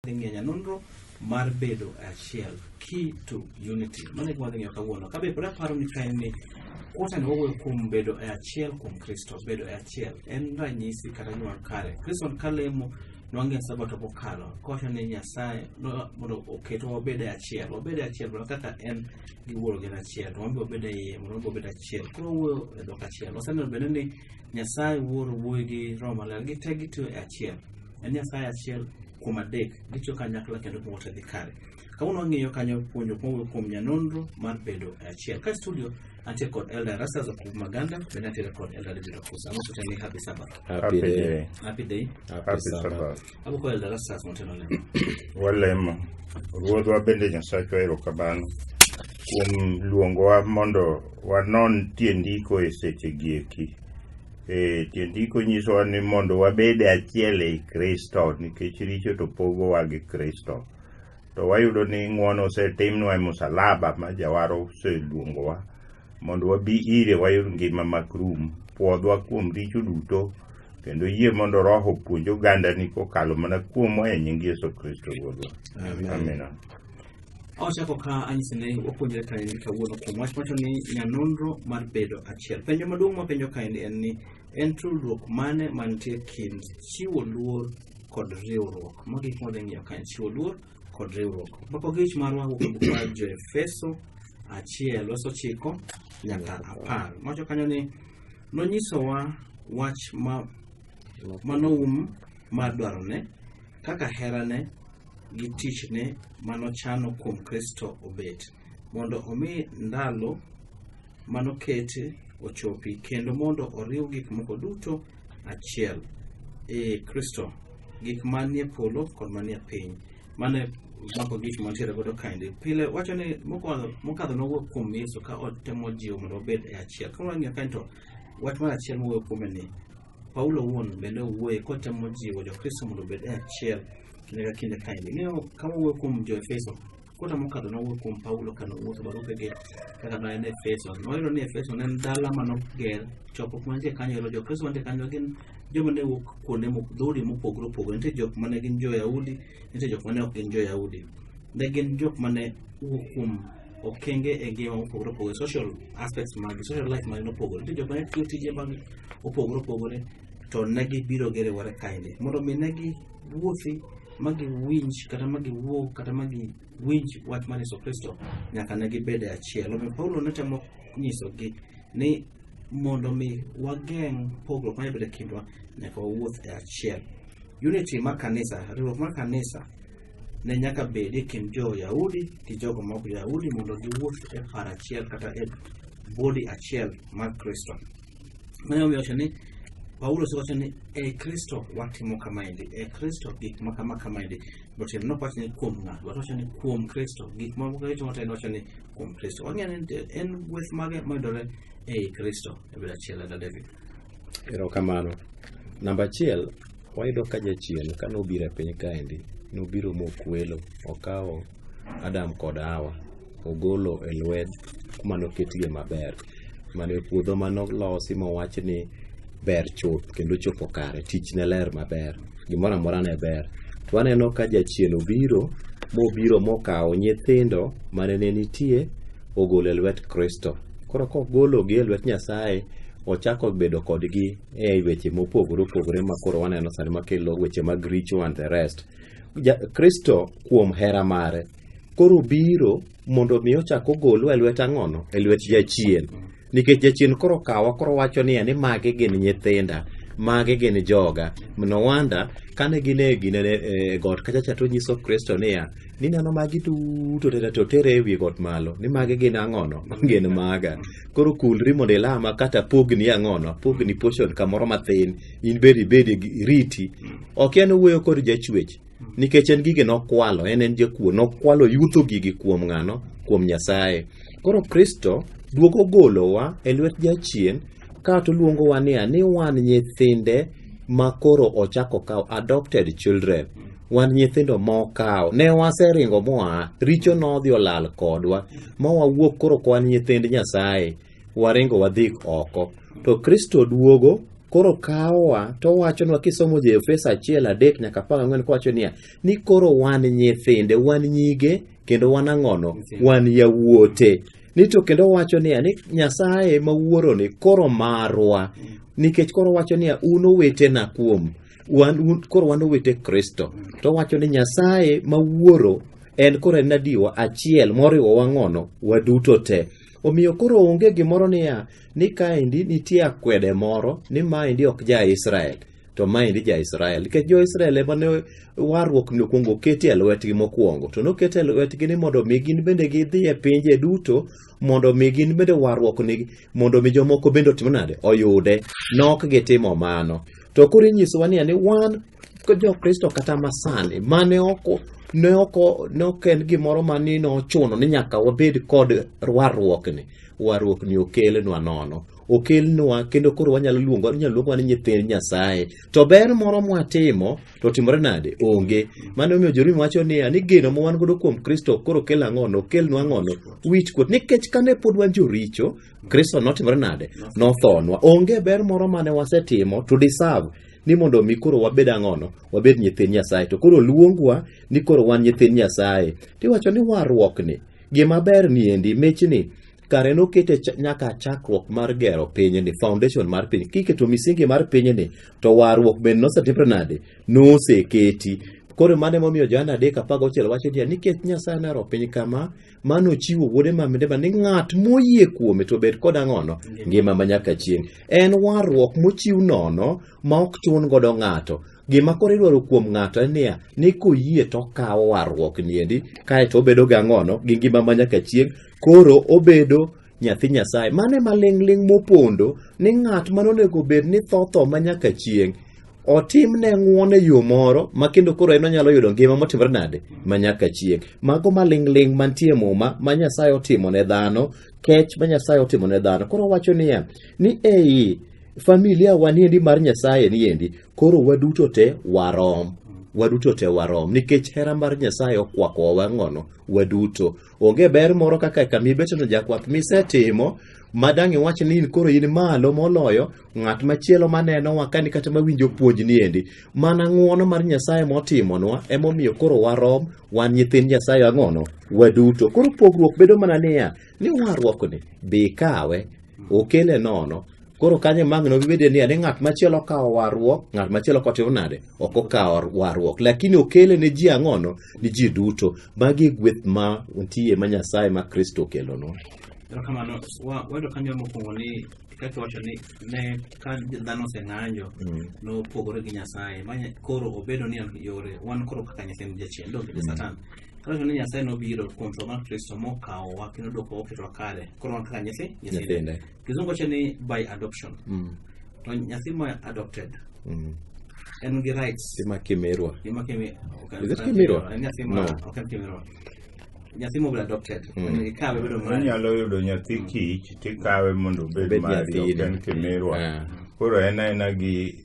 dhi ng'iyo nya nonro mar bedo e achiel key to unity mano e gima wadhi ng'iyo kawuono kabe pod aparo ni ka en ni kuota ni wawuoyo kuom bedo e achiel kuom kristo bedo e achiel en ranyisi kata gima kare kristo ka lemo nwang'e sabato mokalo kowacho ni nyasaye no- mondo oketwa wabed e achiel wabed e achiel mana kaka en gi wuoro gin achiel to wambe wabed e iye mondo wambe wabed achiel koro wuoyo e dhok achiel waseneno bende ni nyasaye wuoro wuoyi gi roho maler gite gitiyo e achiel En Nyasaye achiel kuom adek, gitiyo kanyakla kendo giwuotho dhi kare. Kawuono wang'iyo kanyo puonjo mowuok kuom nyanonro mar bedo e achiel. Ka studio antie kod Elder Rasas Okubu Maganda, bende antiere kod Elder David Okusa. Amoso tena ni happy Sabbath. Happy Happy day. day. Happy day. Happy Happy Sabbath. Sabbath. Abuko Elder Rasas motelo lemo. Walemo. Ruodhwa bende Nyasachwa erokamano kuom luongowa mondo wanon tie ndiko e sechegi eki. E, tiend ndiko nyisowa ni mondo wabed achiel ei Kristo nikech richo to pogowa gi Kristo. To wayudo ni ng'wono osetimnwa e musalaba ma jawar oseluongowa mondo wabi ire wayud ngima mak rum, pwodhwa kuom richo duto kendo yie mondo Roho opuonj ogandani kokalo mana kuomwa e nying Yesu Kristo Ruodhwa. Amen. Amina. Ochako ka anyise ne wapuonjre kaendi kawuono kuom wach macho ni nyanonro mar bedo achiel. Penjo maduong' mapenjo kaendi en ni en tudruok mane mantie kind chiwo luor kod riwruok. Magi gik mwadhi ng'iyo kaen chiwo luor kod riwruok. Mbako gich marwa wuok e buk mar Joefeso achiel verse ochiko nyaka apar. Mawacho kanyo ni nonyisowa wach ma manoum mar dwarone kaka herane gi tichne manochano kuom Kristo obet, mondo omi ndalo manokete ochopi, kendo mondo oriw gik moko duto achiel, ee Kristo, gik manie polo kod manie piny. Mano e mako gik mantiere godo kaendi. Pile wacho ni mokwa- mokadho nowuok kuom Yesu ka otemo jiwo mondo obed e achiel. Ka wang'iyo kae to wach mar achiel mowuoyo kuome ni Paulo owuon bende owuoye kotemo jiwo Jokristo mondo obed e achiel kinde ka kinde kaendi. Ing'eyo ka wawuoyo kuom Jo-Efeso, kota mokadho nowuoyo kuom Paulo ka nowuotho barupege kaka ne en Efeso. Noyudo ni Efeso ne en dala ma noger, chokruok mantie kanyo ero Jokristo mantie kanyo gin joma ne wuok kuonde mo- dhoudi mopogore opogore. Nitie jok ma ne gin Jo-Yahudi, nitie jok ma ne ok gin Jo-Yahudi. Ne gin jok ma ne wuok kuom okenge e ngima mopogore opogore social aspects mag social life mag nopogore nitie joma ne tiyo tije mag opogore opogore to ne gibiro gerewore kaende mondo mi ne giwuothi ma giwinj kata ma giwuo kata ma giwinj wach mar yesu kristo nyaka ne gibed e achiel omiyo paulo ne temo nyisogi ni mondo mi wageng' pogruok ma nyalo e kindwa nyaka wawuoth e achiel unity mar kanisa riwruok mar kanisa ne nyaka bed e kind jo-Yahudi gi jogo ma ok jo-Yahudi mondo giwuoth e par achiel kata e body achiel mar Kristo. Mano omiyo wacho ni Paulo osewacho ni e Kristo watimo kamaendi, e Kristo gik ma kama kamaendi. Botiende ne ok wacho ni kuom ng'ato, but wacho ni kuom Kristo. Gik ma Kristo motelo wacho ni kuom Kristo. Wang'eyo ni nitie- en gweth mage mayudore ei Kristo e bed achiel e David. Erokamano. Namba achiel, Wayudo ka jachien ka nobiro e piny kaendi, nobiro mokwelo, okawo Adam kod Hawa, ogolo e lwet kuma noketgie maber. Mane puodho ma nolosi mowach ni ber chuth kendo chopo kare, tich ne ler maber, gimoro amora ne ber. To aneno ka jachien obiro, mobiro mokawo nyithindo mane ne nitie, ogolo e lwet Kristo. Koro kogologi e lwet Nyasaye, ochako bedo kodgi e weche mopogore opogore ma koro waneno sani makelo weche mag richo and the rest ja, kristo kuom hera mare koro biro mondo mi ochak ogolwa e lwet ang'ono e lwet jachien nikech jachien koro kawa koro wacho niya ni magi gin nyithinda magi gin joga no wanda kane gin e gine e got kachacha to nyiso kristo niya nineno magi duto tete to tere e wi got malo ni magi gin ang'ono gin maga koro kulri mondo ilama kata pogni ang'ono pogni portion kamoro mathin in bed ibed iriti ok en wuoyo kod jachwech nikech en gige nokwalo en en jakuo nokwalo yutho gigi kuom ng'ano kuom nyasaye koro kristo duogo golowa e lwet jachien kato luongowa niya ni wan nyithinde ma koro ochako kawo adopted children wan nyithindo mokawo ne waseringo moa richo nodhi olal kodwa ma wawuok koro kwan nyithind nyasaye waringo wadhi oko to kristo duogo koro kawowa to owachonwa kisomo joefeso achiel adek nyaka apar ang'wen kowacho niya ni koro wan nyithinde wan nyige kendo wan ang'ono wan yawuote ni to kendo wacho niya ni nyasaye ma wuoroni koro marwa nikech koro wacho niya un owetena kuom wan, un, koro wan owete kristo to wacho ni nyasaye ma wuoro en koro en adiwa achiel moriwo wang'ono waduto te omiyo koro onge gimoro niya ni kaendi nitie akwede moro ni maendi ok ja israel to maendi ja-Israel, nikech jo-Israel ema ne warruok ni okwongo oketi e lwetgi mokwongo, to noket e lwetgi ni mondo mi gin bende gidhi e pinje duto mondo mi gin bende warruok ni mondo mi jomoko bende otim nade oyude, nok gitimo mano. To koro inyisowa niya ni wan jo-Kristo kata masani mane ok ne ok ne ok en gimoro ma ni nochuno ni nyaka wabed kod warruokni, warruokni okelnwa nono. okelnwa kendo koro wanyalo luongo wanyalo luongo ni nyithind Nyasaye. To ber moro mwatimo to timore nade? Onge. Mano miyo Jerumi wacho niya ni geno ma wan godo kuom Kristo koro kel ang'ono, okelnwa ang'ono, wich kuot. Nikech kane pod wan joricho, Kristo notimore nade? Nothonwa. Onge ber moro mane wasetimo to deserve ni mondo omi koro wabed ang'ono, wabed nyithind Nyasaye. To koro luongwa ni koro wan nyithind Nyasaye. Tiwacho ni warruokni, gima ber ni endi, michni, kare nokete ch- nyaka chakruok mar gero pinyni foundation mar piny kiketo misingi mar pinyni to warruok bende nosetimre nade noseketi koro mano emomiyo johana adek apar gauchiel wacho niya nikech nyasaye nohero piny kama mane ochiwo wuode maminde ma ni ng'at moyie kuome to bed koda ng'ono ngima ma nyaka chieng' en warruok mochiw nono ma ok chun godo ng'ato gima koro idwaro kuom ng'ato en niya ni koyie to okawo warruok niendi kae to obedo ga ng'ono gi ngima ma nyaka chieng' Koro obedo nyathi Nyasaye. Mane maling'ling' mopondo ni ng'at ma nonego bed ni tho tho ma nyaka chieng' otimne ng'uon e yo moro ma kendo koro en onyalo yudo ngima motimore nade ma nyaka chieng'. Mago maling'ling' mantie muma ma Nyasaye otimo ne dhano, kech ma Nyasaye otimo ne dhano. Koro wacho niya, ni ei familia wa niendi mar Nyasaye niendi, koro waduto te warom waduto te warom nikech hera mar Nyasaye okwakowa wang'ono waduto. Onge ber moro kaka kama ibeteno jakwath misetimo ma dang' iwach ni in koro in malo moloyo ng'at machielo manenowa kani kata mawinjo puonjni endi. Mana ng'wono mar Nyasaye motimonwa emomiyo koro warom wan nyithind Nyasaye ang'ono waduto. Koro pogruok bedo mana niya, ni warruokni be ikawe okele nono koro kanyo magno bibede ni ane ng'at machielo kawo warruok ng'at machielo kotimo nade ok okawo warruok lakini okele ne ji ang'ono ni ji duto magi e gweth ma nitie ma nyasaye ma kristo okelonwa kamano wayudo kanyo mokwongo ni kaka iwacho ni ne ka dhano oseng'anjo mm. nopogore gi nyasaye koro obedo ni yore wan koro kaka nyasaye jachien donge mm. satan Kata ni Nyasaye nobiro kuom tho mar Kristo mokawowa kendo dwokowa oketwa kare. Koro wan kaka nyathi nyithinde. Nyithinde. Kizungu wacho ni by adoption. Mm. To nyathi ma adopted Mm. en gi rights Sima kimirwa. Gima kimi- ok- Is it ok- Kimirwa? en nyathi ma- No. ok en Kimirwa. Nyathi mobile adopted. Mm. Ikawe bedo mari. Inyalo yudo nyathi kich tikawe mondo obed Obed mari ok nyathini. en kimirwa. Ah. Koro en aena gi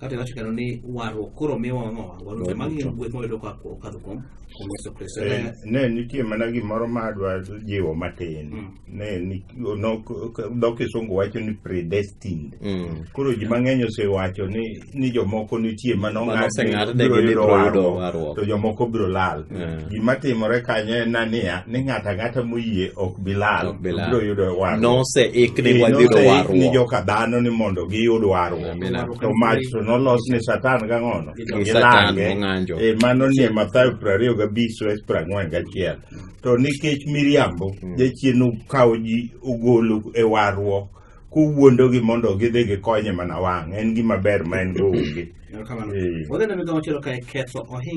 kata iwacho kendo ni warruok koro miwa wang'o wangwa duto magi gin gweth mwayudo ka okadho kuom kuom yesu kristo Eh, Ne- ne nitie mana gimoro ma adwa jiwo matin Mm. ne ni- no- k- dho kisungu wacho ni predestined Mm. koro ji mang'eny osewacho ni ni jomoko nitie Ma manong'ad ni noseng'adnegi ni biro yudo biro yudo warruok warruok. to jomoko biro lal Eh. gima timore kanyo en na niya ni ng'ato ang'ata moyie ok bilal Ok bilal. obiro yudo warruok noseik ni Ee, wadhiro noseik ni warruok joka dhano ni mondo giyud warruok Amen. to mach to nolos ni satan gang'ono Gi Satan mong'anjo. e mano ni e mathayo piero ariyo gabich sues piero ang'wen gachiel to nikech miriambo jachien okawo ji ogolo e warruok kowuondogi mondo gidhi gikonye mana wang' en gima ber ma en go onge Erokamano. Ee. Wadhi ne migawo machielo kae ketho ohinga